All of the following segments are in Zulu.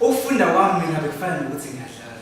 Ukufunda kwami mina bekufana nokuthi ngiyadlala.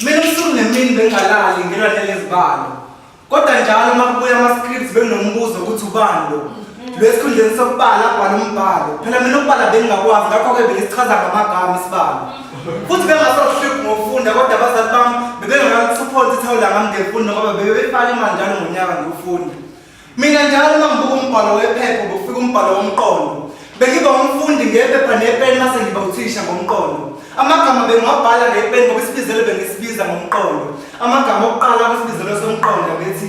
Mina usuku nemini bengalali ngilwa nelezibalo. Kodwa njalo uma kubuya ama-scripts benginombuzo ukuthi ubani lo. Lo esikhundleni sokubala abhala umbhalo. Phela mina ukubala bengingakwazi ngakho-ke bengisichaza ngamagama isibalo. Futhi bengasahluphi ngokufunda kodwa abazali bami bebengakakusuphonsi ithawula ngami ngemfundo ngoba bebebefaka imali njalo ngonyaka ngokufunda. Mina njalo uma ngibuka umbhalo wephepha ubufika umbhalo womqondo. Bengiba umfundi ngephepha nepeni mase ngiba uthisha ngomqondo. Amagama bengiwabhala ngepeni ngoba isibizelo bengisibiza ngomqondo. Amagama okuqala kwisibizelo somqondo bethi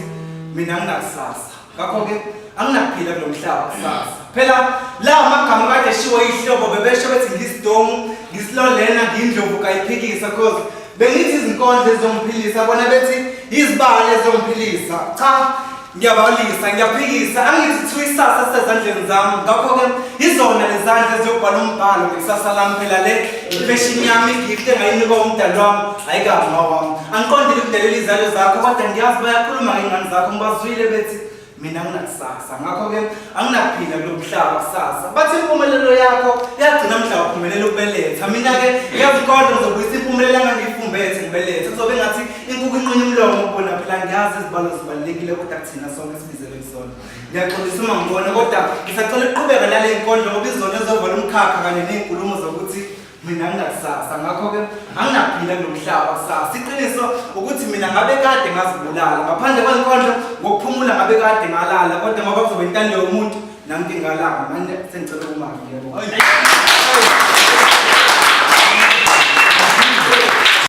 mina nginakusasa. Ngakho-ke anginakuphila kulo mhlaba kusasa. Phela la amagama kade eshiwo ihlobo bebesho bethi ngisidomu, ngisilolena, ngindlovu kayiphikisa cause Bengithi izinkondlo ezizongiphilisa bona bethi yizibali ezizongiphilisa. Cha, ngiyabalisa, ngiyaphikisa, angithi kuthiwa isasa sezandleni zami. Ngakho-ke yizona lezandla eziyobhala umbhalo ngekusasa lami phela le imfeshini yami igift engayinikwa umdali wami ayikabi mawami. Angiqondile ukudelela izalo zakho kodwa ngiyazi bayakhuluma ngey'ngane zakho ngibazwile bethi mina nginakusasa ngakho-ke anginaphila kulo mhlaba kusasa bathi impumelelo yakho yagcina mhla uphumelela ukubeletha mina-ke ngiyazikodwa ngizobuyisa impumelelo angangiyifumbethe ngibelethe kuzobe ngathi inkukhu inqinye umlomo kubona phela ngiyazi izibalo zibalulekile kodwa kuthina sonke sibizelwe kusona ngiyaxolisa uma ngibona kodwa ngisacela ukuqhubeka nale nkondlo ngoba izona ezovala umkhakha kanye ney'nkulumo zokuthi mina nginakusasa ngakho-ke anginaphila kulo mhlaba kusasa iqiniso ukuthi mina ngabe kade ngazibulala ngaphandle kwenkondlo ngokuphumula ngabe kade ngalala kodwa ngoba kuzobe intando yomuntu nangingalanga manje sengicela kumali yebo